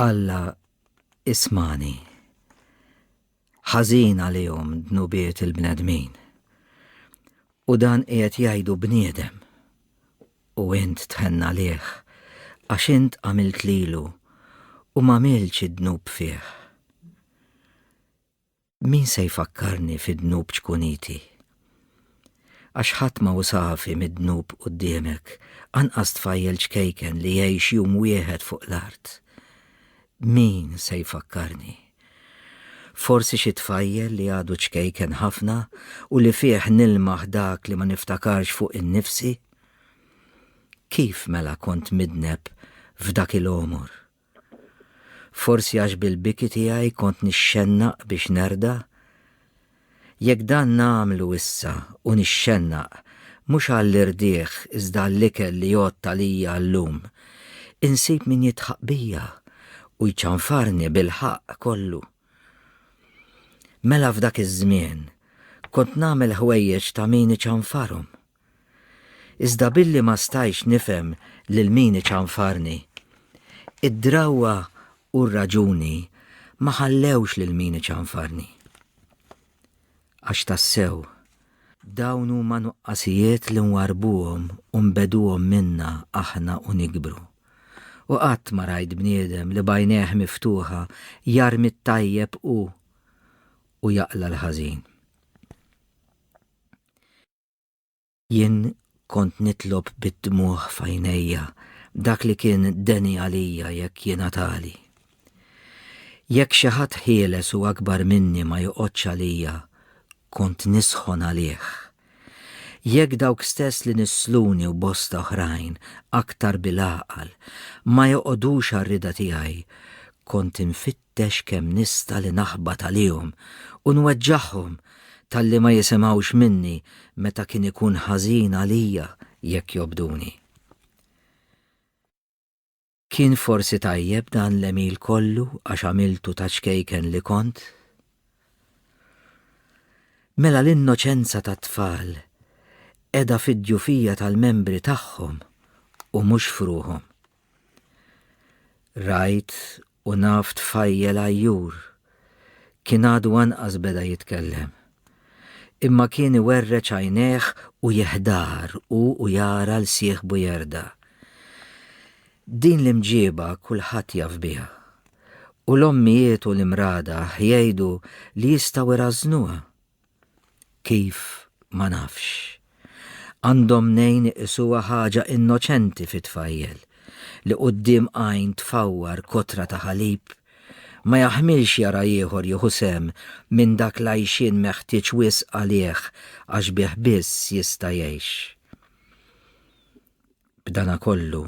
Alla ismani. Ħażin għalihom dnubiet il-bnedmin. U dan qiegħed jgħidu bniedem. U int tħenna liħ, għax int għamilt lilu u ma milċ id-dnub fih. Min se jfakkarni fid-dnub ċkuniti? Għax ħadd ma hu safi mid-dnub quddiemek, anqas tfajjel ċkejken li jgħix jum wieħed fuq l-art. Min se jfakkarni? Forsi xi tfajjel li għadu ċkejken ħafna u li fih nilmaħ dak li ma niftakarx fuq innifsi? Kif mela kont midneb f'dak il-għomor? Forsi għax bil-biki tiegħi kont nixxennaq biex nerda? Jekk dan nagħmlu issa u nixxennaq mhux għall-irdiegħ iżda għall-ikel li jgħodd għalija llum, insib min jidħaq bija u jċanfarni bil-ħaqq kollu. Mela f'dak iż-żmien kont nagħmel ħwejjeġ ta' min iċanfarhom. Iżda billi ma stajtx nifhem lil min iċanfarni. Id-drawwa u r-raġuni ma ħallewx lil min iċanfarni. Għax tassew, dawn huma nuqqasijiet li nwarrbuhom u nbeduhom minna aħna u nikbru. U qatt ma rajt bniedem li b'għajnejh miftuħa jarmi t-tajjeb u u jaqla' l-ħażin. Jien kont nitlob bid-dmugħ f'għajnejja dak li kien deni għalija jekk jingħatali. Jekk xi ħadd ħieles u akbar minni ma joqgħodx għalija, kont nisħon għalih. Jekk dawk stess li nissluni u bosta oħrajn, aktar bil-għaqal, ma joqgħodux għar-rieda tiegħi, kont infittx Dex kemm nista' li naħbat għalihom u nweġġagħhom talli ma jisimgħux minni meta kien ikun ħażin għalija jekk jobduni. Kien forsi tajjeb dan l-għemil kollu għax għamiltu ta' ċkejken li kont? Mela l-innoċenza tat-tfal qiegħda fid-djufija tal-membri tagħhom u mhux f'ruħhom. Rajt u naf tfajjel għajjur. Kien għadu anqas beda jitkellem. Imma kien iwerreġ għajnejh u jeħdar hu u jara 'l sieħbu jerda'. Din l-imġieba kulħadd jaf biha. U l-ommijiet u l-imradaħ jgħidu li jistgħu jrażżnuha. Kif ma nafx? Għandhom nejn iqisuha ħaġa innoċenti fi tfajjel li quddiem għajn tfawwar kotra ta' ħalib, ma jaħmilx jara ieħor jieħu sehem minn dak l-għajxien meħtieġ wisq għalih għax bih biss jista' jgħix. B'dana kollu,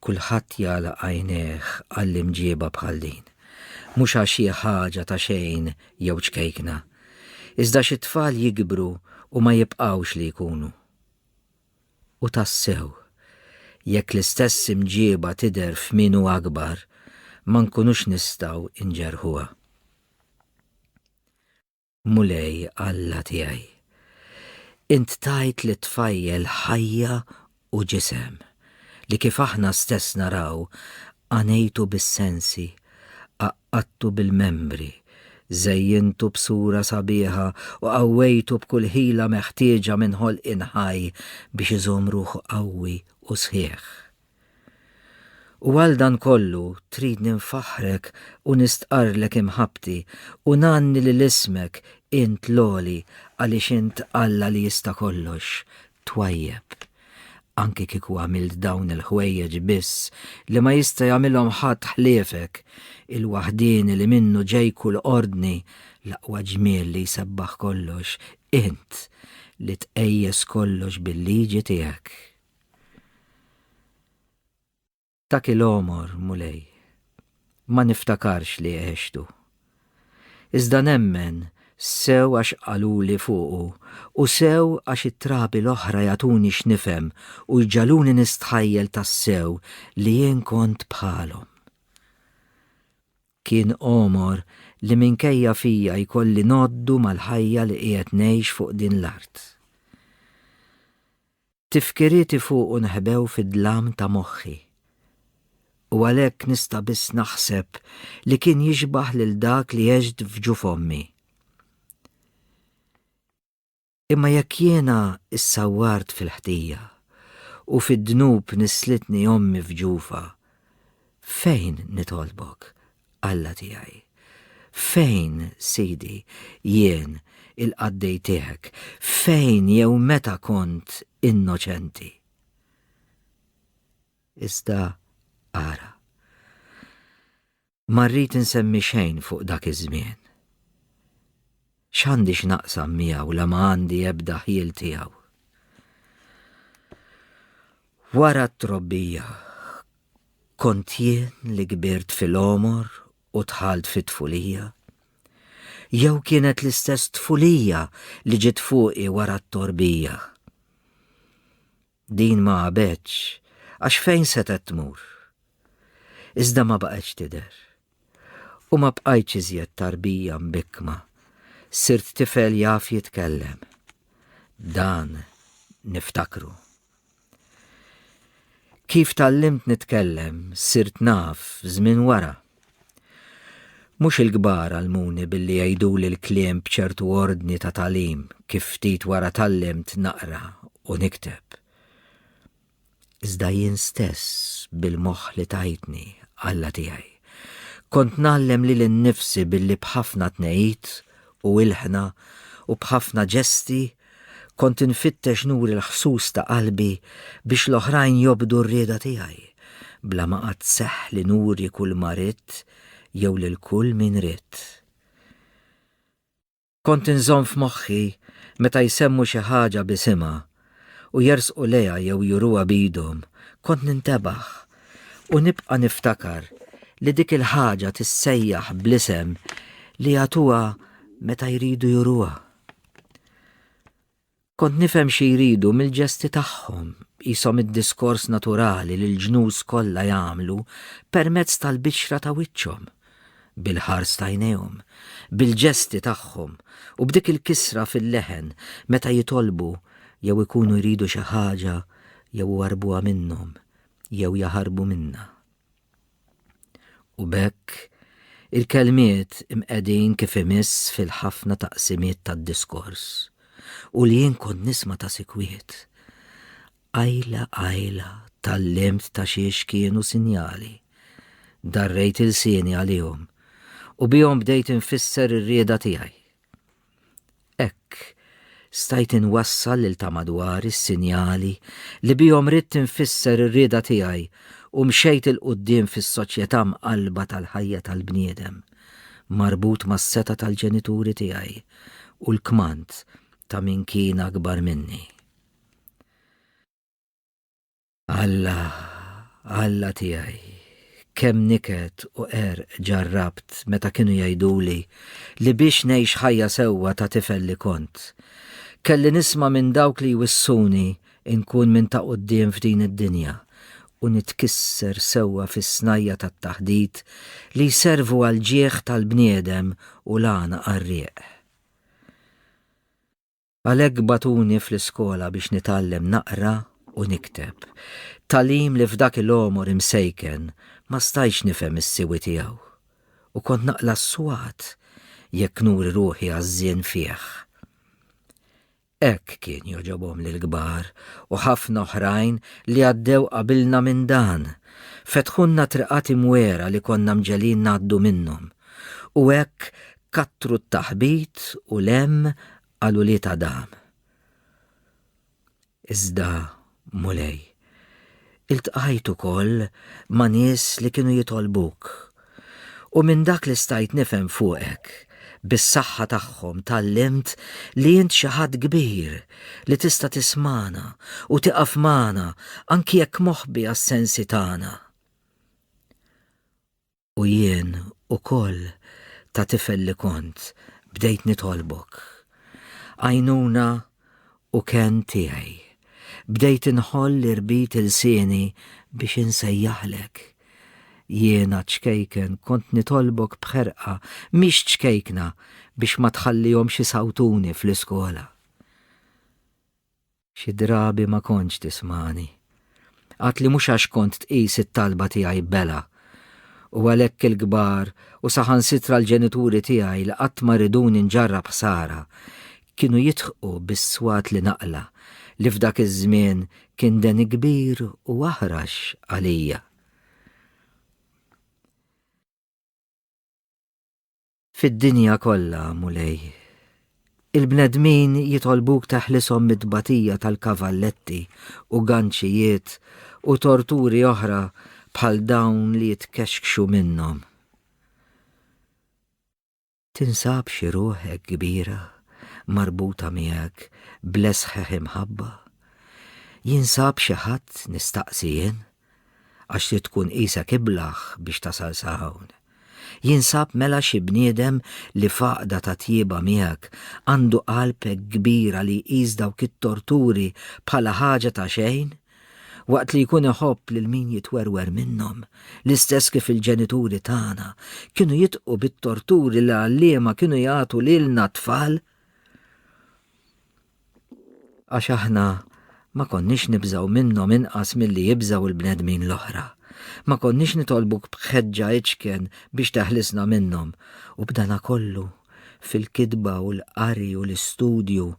kulħadd jagħlaq għajnejh għall-imġieba bħal din. Mhux għax hi ħaġa ta' xejn jew ċkejkna. Iżda għax it-tfal jikbru u ma jibqgħux li jkunu. U tassew, jekk l-istess imġieba tidher f'min hu akbar, ma nkunux nistgħu nġerrħuha. Mulej Alla tiegħi, int tajt lit-tfajjel ħajja u ġisem, li kif aħna stess naraw, għanejtu bis-sensi, għaqqadtu bil-membri, żejjintu b'sura sabiħa u qawwejtu b'kull ħila meħtieġa minn ħolqien ħaj biex iżomm ruħu qawwi u sħiħ. U għal dan kollu tridni nfaħħrek u nistqarrlek imħabbti u ngħanni lil ismek int l-għoli għaliex int Alla li jista' kollox, twajjeb. Anki kieku għamilt dawn il-ħwejjeġ biss li ma jista' jagħmilhom ħadd ħliefek, il-waħdieni li minnu ġej kull ordni, l-aqwa ġmiel li jsebbaħ kollox, int li tqejjes kollox bil-liġi tiegħek. Dak il-għomor, Mulej, ma niftakarx li għextu. Iżda nemmen sew għax qaluli fuqu u sew għax it-trabi l-oħra jagħtuni x'nifhem u jġagħluni nistħajjel tassew li jien kont bħalhom. Kien għomor li minkejja fija jkolli ngħoddu mal-ħajja li qiegħed ngħix fuq din l-art. Tifkirieti fuqu nħebew fid-dlam ta' moħħi. U għalhekk nista' biss naħseb li kien jixbah lil dak li għext f'ġuf ommi. Imma jekk jiena issawwart fil-ħtija u fid-dnub nislitni ommi f'ġufa, fejn nitolbok Alla tiegħi. Fejn, Sidi, jien, il-qaddej tiegħek, fejn jew meta kont innoċenti? Iżda ara. Ma rrid insemmi xejn fuq dak iż-żmien. X'għandi x'naqsam miegħu la ma għandi ebda ħjiel tiegħu. Wara t-trobbija kont jien li kbirt fil-omor u tħalt fit-tfulija? Jew kienet l-istess tfulija li ġiet fuqi wara t-torbija? Din ma għabetx, għax fejn setgħet tmur? Iżda ma baqgħetx tidher. U ma bqajtx iżjed tarbija mbikkma, sirt tifel jaf jitkellem. Dan niftakru. Kif tgħallimt nitkellem, sirt naf żmien wara. Mhux il-kbar għallmuni billi jgħiduli l-kliem b'ċertu ordni ta' tagħlim kif ftit wara tgħallimt naqra u nikteb. Iżda jien stess bil-moħħ li tajtni, Alla tiegħi, kont ngħallem lili nnifsi billi b'ħafna tnegħid u ilħna u b'ħafna ġesti Kont infittex nuri l-ħsus ta' qalbi biex l-oħrajn jobdu r-rieda tiegħi, bla ma qatt seħħ li nuri kulma ridt jew lil kull min ridt. Kont inżomm f'moħħi meta jsemmu xi ħaġa b'isimha u jersqu lejha jew juruha b'idhom, kont nintebaħ u nibqa' niftakar li dik il-ħaġa tissejjaħ bl-isem li jagħtuha meta jridu juruha. Kont nifhem xi jridu mill-ġesti tagħhom, jisom id-diskors naturali li l-ġnus kollha jagħmlu permezz tal-bixra ta' wiċċhom, bil-ħars t'għajnejhom, bil-ġesti tagħhom u b'dik il-kisra fil-leħen meta jitolbu jew ikunu jridu xi ħaġa jew iwarrbuha minnhom jew jaħarbu minnha. U b'hekk, il-kelmiet imqegħdin kif imiss fil-ħafna taqsimiet tad-diskors, u li jien kont nisma' ta' sikwit. Qajla qajla tgħallimt ta' xiex kienu sinjali. Darrejt ilsieni għalihom, u bihom bdejt infisser ir-rieda tiegħi. Hekk, stajt inwassal lil ta' madwari s-sinjali li bihom ridt infisser ir-rieda tiegħi u mxejt 'il quddiem fis-soċjetà mqallba tal-ħajja tal-bniedem, marbut mas-setgħa tal-ġenituri tiegħi u l-kmand ta' min kien akbar minni. Alla, Alla tiegħi, kemm niket u er ġarrabt meta kienu jgħiduli li biex ngħix ħajja sewwa ta' tifel li kont. Kelli nisma' minn dawk li jwissuni inkun minn ta' quddiem f'din id-dinja u nitkisser sewwa fis-snajja' tat-taħdit li jservu għall-ġieħ tal-bniedem u l-għana qarrieq. Għalhekk bagħtuni fl-iskola biex nitgħallem naqra u nikteb, tagħlim li f'dak il-għomor imsejken ma stajtx nifhem is-siwi tiegħu u kont naqla' s-swat jekk nuri ruħi għażżien fih. Hekk kien jogħġobhom lill-kbar u ħafna oħrajn li għaddew qabilna minn dan, fetħulna triqat imwiegħra li konna mġegħlin ngħaddu minnhom u hekk Kattru t-taħbit u l-hemm għal ulied Adam. Iżda, Mulej, iltqajt ukoll ma' nies li kienu jitolbuk, u minn dak li stajt nifhem fuqek, bis-saħħa tagħhom tgħallimt li int xi Ħadd kbir li tista' tismagħna u tieqaf magħna anki jekk moħbi għas-sensi tagħna. U jien ukoll, ta' tifel li kont, bdejt nitolbok. Għajnuna u kenn tiegħi. Bdejt inħoll li rbit ilsieni biex insejjaħlek. Jiena, ċkejken, kont nitolbok b'ħerqa, mhix ċkejkna, biex ma tħallihomx isawtuni fl-iskola. Xi drabi ma kontx tismagħni. Qatt li mhux għax kont tqis it-talba tiegħi bela. U għalhekk il-kbar u saħansitra l-ġenituri tiegħi li qatt ma riduni nġarrab ħsara, kienu jidħqu bis-swat li naqla' li f'dak iż-żmien kien deni kbir u aħrax għalija. Fid-dinja kollha, Mulej, il-bnedmin jitolbuk teħlishom mit-tbatija tal-kavalletti u ganċijiet u torturi oħra bħal dawn li jitkexkxu minnhom. Tinsab xi ruħ hekk kbira marbuta miegħek bl-esħħeħ imħabba? Jinsab xi ħadd nistaqsi jien? Għax trid tkun qisek iblah biex tasal sa hawn. Jinsab mela xi bniedem li f'għaqda ta' tjieba miegħek għandu qalb hekk kbira li jqis dawk it-torturi bħala ħaġa ta' xejn? Waqt li jkun iħobb lil min jitwerwer minnhom, l-istess kif il-ġenituri tagħna kienu jitqu bit-torturi li l-għalliema kienu jagħtu lilna t-tfal? Għax aħna ma konniex nibżgħu minnhom inqas milli jibżgħu il-bnedmin l-oħra. Ma konniex nitolbuk b'ħeġġa iċken biex teħlisna minnhom. U b'dana kollu, fil-kitba u l-qari u l-istudju,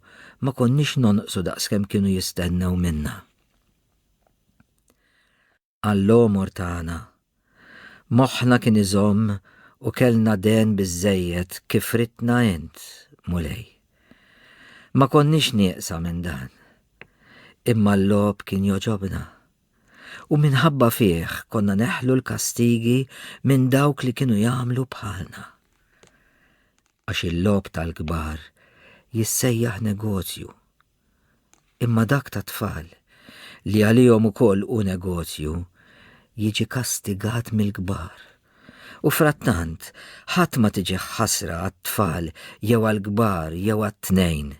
ma konniex nonqsu daqskemm kienu jistennew minna. għall-għomor tagħna. Moħħna kien iżomm u kellna dehen biżżejjed kif ridtna Int, Mulej. Ma konniex nieqsa minn dan. Imma l-logħob kien jogħġobna. U minħabba fih konna neħlu l-kastigi minn dawk li kienu jagħmlu bħalna. Għax il-logħob tal-kbar jissejjaħ negozju. imma dak tat-tfal, li għalihom ukoll hu negozju, jiġi kastigat mill-kbar. U frattant, ħadd ma tiġih ħasra għat-tfal jew għall-kbar jew għat-tnejn.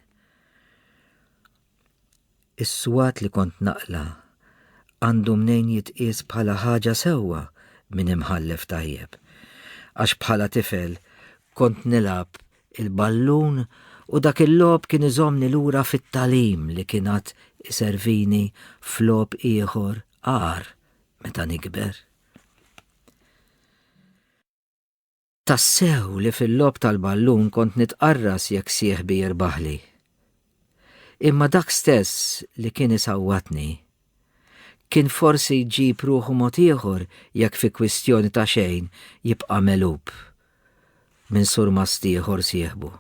Is-swat li kont naqla' għandu mnejn jitqies bħala ħaġa sewwa minn imħallef tajjeb, għax bħala tifel kont nilgħab il-ballun u dak il-logħob kien iżommni lura fit-tagħlim li kien għad iservini f'logħob ieħor agħar meta nikber. Tassew li fil-logħob tal-ballun kont nitqarras jekk sieħbi jirbaħli. Imma dak stess li kien isawwatni, kien forsi jġib ruħu mod ieħor jekk fi kwistjoni ta' xejn jibqa' megħlub minn surmast ieħor sieħbu.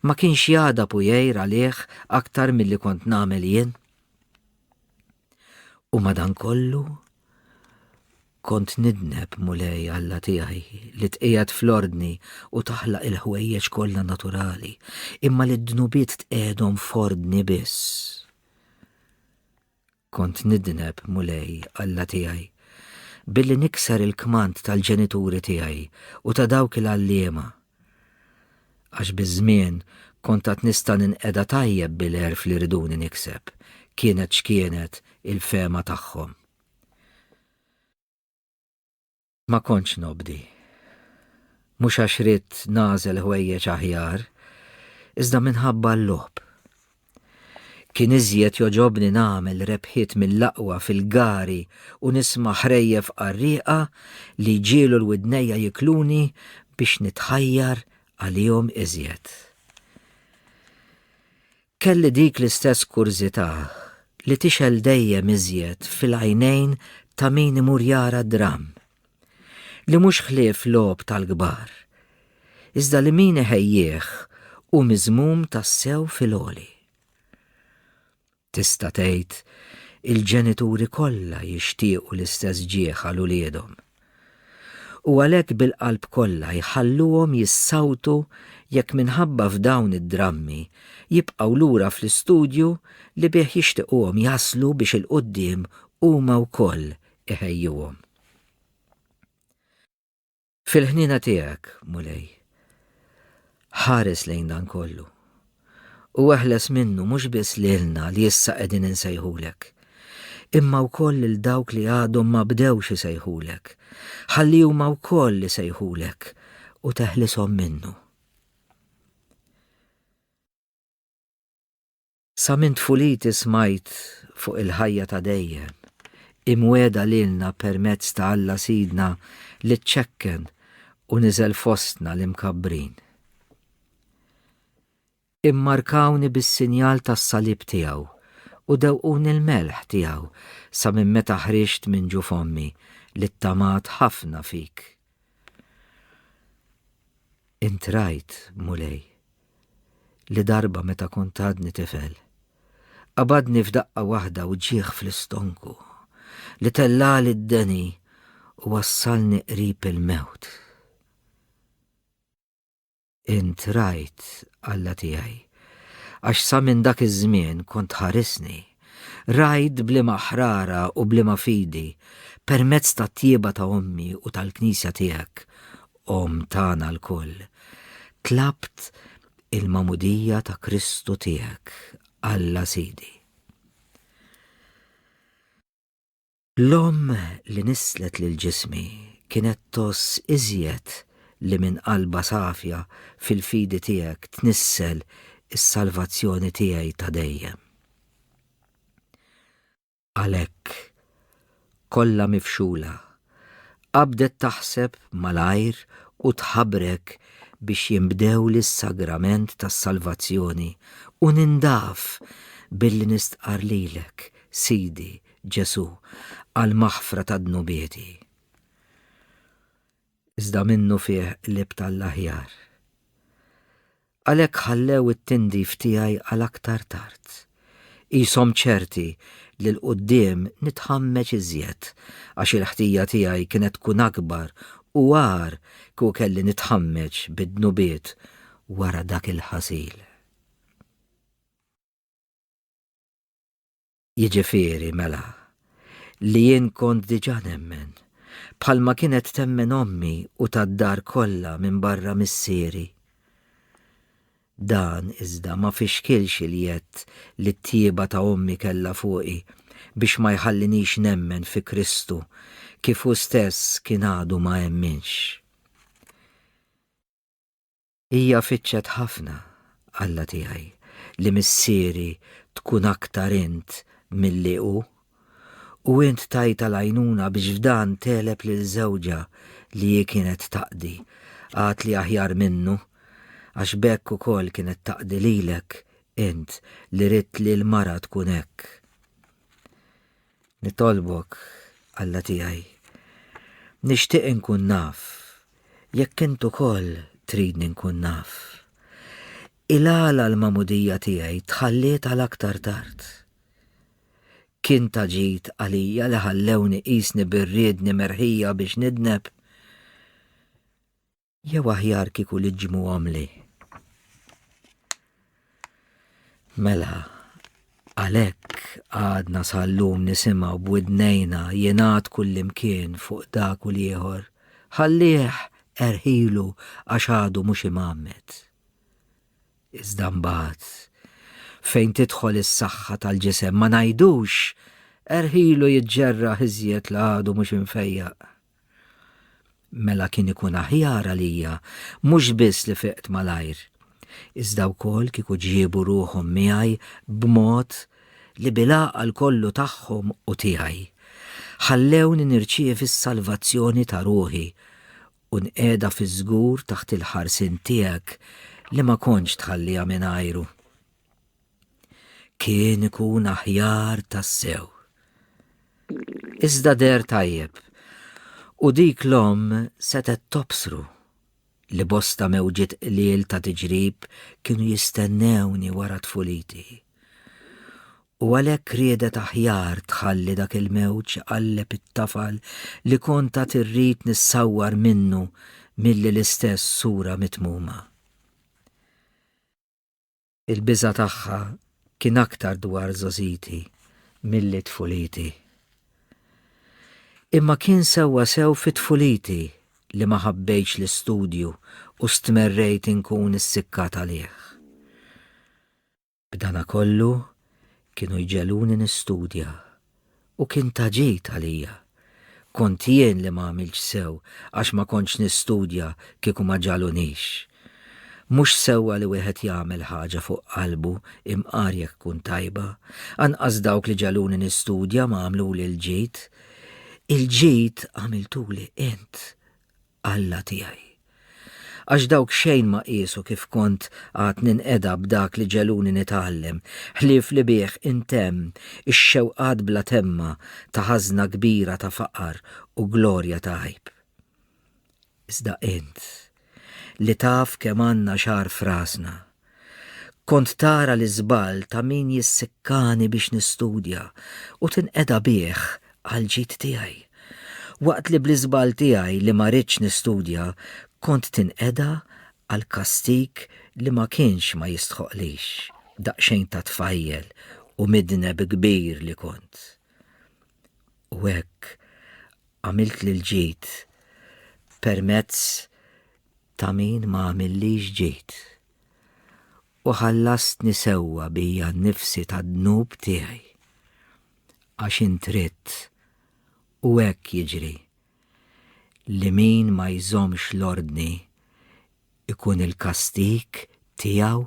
Ma kienx jagħdab u jgħir għalih aktar milli kont nagħmel jien? U madankollu kont nidneb mulej Alla tiegħi li tqiegħed fl-ordni u taħlaq il-ħwejjeġ kollha naturali, imma li d-dnubiet tqiegħedhom f'ordni biss. Kont nidneb mulej Alla tiegħi billi nikser il-kmand tal-ġenituri tiegħi u ta' dawk il-għalliema Għax biż-żmien kont għad nista' ninqeda tajjeb bil-għerf li riduni nikseb, kienet x'kienet il-fehma tagħhom. Ma kontx nobdi. Mhux għax ridt nagħżel ħwejjeġ aħjar, iżda minħabba l-logħob. Kien iżjed jogħġobni nagħmel rebħiet mill-aqwa fil-gari u nisma' ħrejjef qarrieqa li jġiegħlu l-widnejja jikluni biex nitħajjar għalihom iżjed. Kelli dik l-istess kurżità li tixgħel dejjem iżjed fil-għajnejn ta' min imur jara d-dramm. li mhux ħlief logħob tal-kbar, iżda li min iħejjih hu miżmum tassew fil-għoli. Tista' tgħid il-ġenituri kollha jixtiequ l-istess ġieħ għal uliedhom. U għalhekk bil-qalb kollha jħalluhom jissawtu jekk minħabba f'dawn id-drammi jibqgħu lura fl-istudju li bih jixtiquhom jaslu biex 'il quddiem huma wkoll iħejjuhom. Fil-ħnina tiegħek, Mulej, ħares lejn dan kollu. U eħles minnu mhux biss lilna li issa qegħdin insejħulek, imma wkoll lil dawk li għadhom ma bdewx isejħulek, ħalli huma wkoll li sejħulek u teħlishom minnu. Sa minn tfuliti smajt fuq il-ħajja ta' dejjem, imwiegħda lilna permezz ta' Alla Sidna li ċċekken u niżel fostna l-imkabbrin. Immarkawni bis-sinjal tas-salib tiegħu u dewquni l-melħ tiegħu sa minn meta ħriġt minn ġuf ommi li ttamat ħafna fik. Int rajt, Mulej, li darba meta kont għadni tifel, qabadni f'daqqa waħda wġigħ fl-istonku li tellagħli d-deni u wassalni qrib il-mewt. Int rajt, Alla tiegħi, għax sa minn dak iż-żmien kont tħarisni, rajt bliema ħrara u bliema fidi permezz tat-tjieba ta' ommi u tal-Knisja tiegħek Omm tagħna lkoll, tlabt il-magħmudija ta' Kristu tiegħek, Alla Sidi. L-omm li nisslet lil ġismi kienet tgħożż iżjed li minn qalbha safja fil-fidi tiegħek tnissel is-salvazzjoni tiegħi ta' dejjem. għalhekk, kollha mifxula, qabdet taħseb malajr u tħabrek biex jinbdew lis-sagrament tas-salvazzjoni u nindaf billi nistqarr lilek, Sidi, Ġesù, għall-maħfra tad-dnubieti. iżda minnufih qlibt għall-aħjar. Għalhekk ħallew it-tindif tiegħi għal aktar tard, qishom ċerti li 'l quddiem nitħammeġ iżjed għax il-ħtija tiegħi kienet tkun akbar u agħar kieku kelli nitħammeġ bid-dnubiet wara dak il-ħasil. Jiġifieri, mela, li jien kont diġà nemmen, bħalma kienet temmen ommi u tad-dar kollha minbarra missieri. Dan, iżda, ma fixkilx il-jedd li t-tjieba ta' ommi kellha fuqi biex ma jħallinix nemmen fi Kristu kif hu stess kien għadu ma emminx. Hija fittxet ħafna, Alla tiegħi, li missieri tkun aktar int milli hu, u int tajtha l-għajnuna biex f'dan tegħleb lil żewġha li hi kienet taqdi, għad li aħjar minnu, għax b'hekk ukoll kienet taqdi lilek, int li ridt li l-mara tkun hekk. Nitolbok, Alla tiegħi, nixtieq inkun naf jekk int ukoll tridni nkun naf. Ilgħala l-magħmudija tiegħi tħalliet għal aktar tard. Kien ta' ġid għalija li ħallewni qisni bir-riedni merħija biex nidneb. Jew aħjar kieku li ġmu għamli. Mela, għalek għadna sal-lum nisimaw b'widnejna jenat kullimkien fuq dak u liħor, ħallieħ erħilu għax għadu mux imammet. Iżda mbagħad fejn tidħol is-saħħa tal-ġisem ma ngħidux erħilu jiġġerra iżjed l għadu mhux infejjaq. Mela kien ikun aħjar għalija mhux biss li fiqt malajr, iżda wkoll kieku ġiebu ruħhom miegħi b'mod li bil-għaqal kollu tagħhom u tiegħi, ħallewni nirċievi s-salvazzjoni ta' ruħi u nqiegħda fiż-żgur taħt il-ħarsien tiegħek li ma kontx tħalliha mingħajru. Kien ikun aħjar tassew. Iżda der tajjeb, u dik l-omm setgħet tobsru li bosta mewġiet qliel ta' tiġrib kienu jistennewni wara tfuliti. U għalhekk riedet aħjar tħalli dak il-mewġ iqalleb it-tafal li kont għad irrid nissawwar minnu milli l-istess sura mitmuma. Il-biża' tagħha kien aktar dwar żgħożiti milli tfuliti. Imma kien sewwa sew fi tfuliti li ma ħabbejtx l-istudju u stmerrejt inkun issikkat għalih. B'danakollu, kienu jġegħluni nistudja u kien ta' ġid għalija. Kont jien li ma għamiltx sew għax ma kontx nistudja kieku ma ġagħlunix. Mhux sewwa li wieħed jagħmel ħaġa fuq qalbu imqar jekk tkun tajba. Anqas dawk li ġagħluni nistudja ma għamluli l-ġid. Il-ġid għamiltuli int, Alla tiegħi. Għax dawk xejn ma qiesu kif kont għad ninqeda b'dak li ġegħluni nitgħallem, ħlief li bih intemm ix-xewqat bla temma ta' ħażna kbira ta' faqar u glorja ta' għajb. Iżda int, li taf kemm għandna xagħar f'rasna, Kont tara l-iżball ta' min jissikkani biex nistudja u tinqeda bih għall-ġid tiegħi. Waqt li bl-iżball tiegħi li ma ridtx nistudja kont tinqeda għal kastig li ma kienx ma jistħoqqlix, daqsxejn ta' tfajjel u midneb kbir li kont. U hekk għamilt l-ġid permezz ta' min ma għamillix ġid, u ħallastni sewwa bija nnifsi tad-dnub tiegħi. Għax int ridt, u hekk jiġri, li min ma jżommx l-ordni jkun il-kastig tiegħu